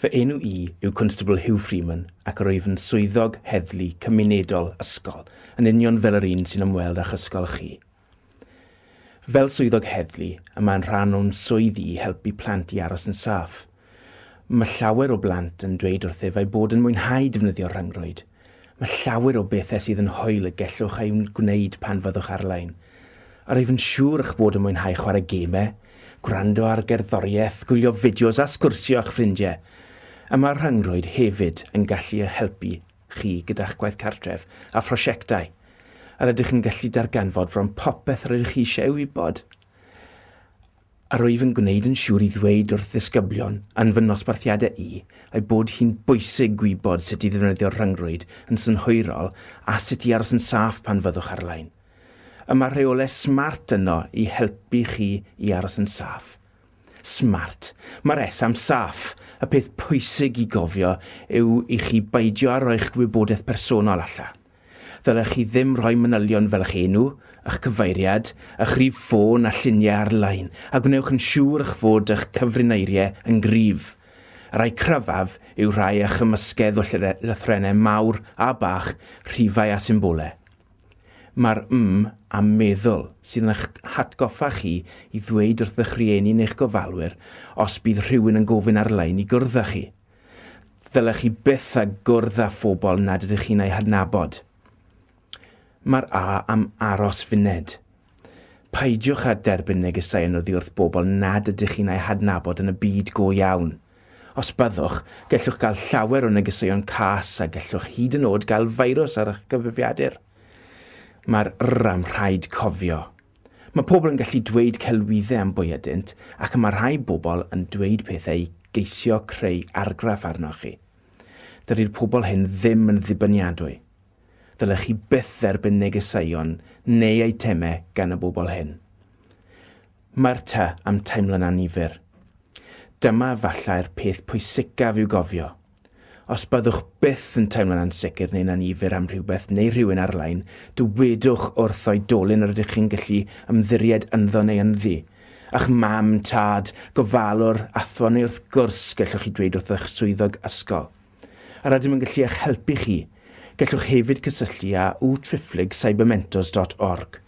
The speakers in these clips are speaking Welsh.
Fy enw i yw Constable Hugh Freeman ac rwyf yn swyddog heddlu cymunedol ysgol, yn union fel yr un sy'n ymweld â'ch ysgol chi. Fel swyddog heddlu, y mae'n rhan o'n swydd i i helpu plant i aros yn saff. Mae llawer o blant yn dweud wrthyf eu bod yn mwynhau defnyddio'r rhyngrwyd, Mae llawer o bethau sydd yn hwyl y gellwch eu gwneud pan fyddwch ar-lein. A rwyf yn siŵr eich bod yn mwynhau chwarae gemau, gwrando ar gerddoriaeth, gwylio fideos a sgwrsio â'ch ffrindiau. A mae'r rhyngrwyd hefyd yn gallu eich helpu chi gyda'ch gwaith cartref a phrosiectau. A rydych yn gallu darganfod bron popeth rydych chi eisiau ei wybod. a rwyf yn gwneud yn siŵr i ddweud wrth ddisgyblion yn fy nosbarthiadau i eu bod hi'n bwysig gwybod sut i ddefnyddio'r rhyngrwyd yn synhwyrol a sut i aros yn saff pan fyddwch ar-lein. Y mae rheolau smart yno i helpu chi i aros yn saff. Smart. Mae'r S am saff. Y peth pwysig i gofio yw i chi beidio â rhoi'ch gwybodaeth personol allan. Ddylech chi ddim rhoi manylion fel eich enw, eich cyfeiriad, eich rhif ffôn a lluniau ar-lein, a gwnewch yn siŵr eich fod eich cyfrineiriau yn gryf. Y rhai cryfaf yw rhai a chymysgedd o lythrennau mawr a bach, rhifau a symbolau. Mae'r 'm' a 'meddwl' sydd yn eich hatgoffa chi i ddweud wrth eich rhieni neu'ch gofalwyr os bydd rhywun yn gofyn ar-lein i gwrdd â chi. Ddylech chi byth â gwrdd â phobl nad ydych chi'n eu hadnabod. Mae'r A am aros funed. Peidiwch â derbyn negesau yn oddi wrth bobl nad ydych chi'n eu hadnabod yn y byd go iawn. Os byddwch, gellwch gael llawer o negeseuon cas a gellwch hyd yn oed gael feirws ar eich cyfrifiadur. Mae'r R am rhaid cofio. Mae pobl yn gallu dweud celwyddau am bwy ydynt, ac mae rhai bobl yn dweud pethau i geisio creu argraff arnoch chi. Dydy'r pobl hyn ddim yn ddibyniadwy. Ddylech chi byth dderbyn negeseuon neu eitemau gan y bobl hyn. Mae'r tŷ am teimlo'n annifyr. Dyma efallai'r peth pwysicaf i'w gofio. Os byddwch byth yn teimlo'n ansicr neu'n annifyr am rhywbeth neu rhywun ar-lein, dywedwch wrth oedolyn yr ydych chi'n gallu ymddiried ynddo neu ynddi. A'ch mam, tad, gofalwr, athro neu wrth gwrs gellwch chi dweud wrth eich swyddog ysgol. Yr ydym yn gallu eich helpu chi. Gellwch hefyd gysylltu â uTriphlyg Cybermentors dot org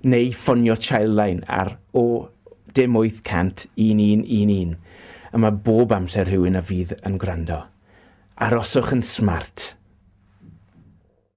neu ffonio Childline ar 01800 1111 a mae bob amser rhywun a fydd yn gwrando. Aroswch yn smart!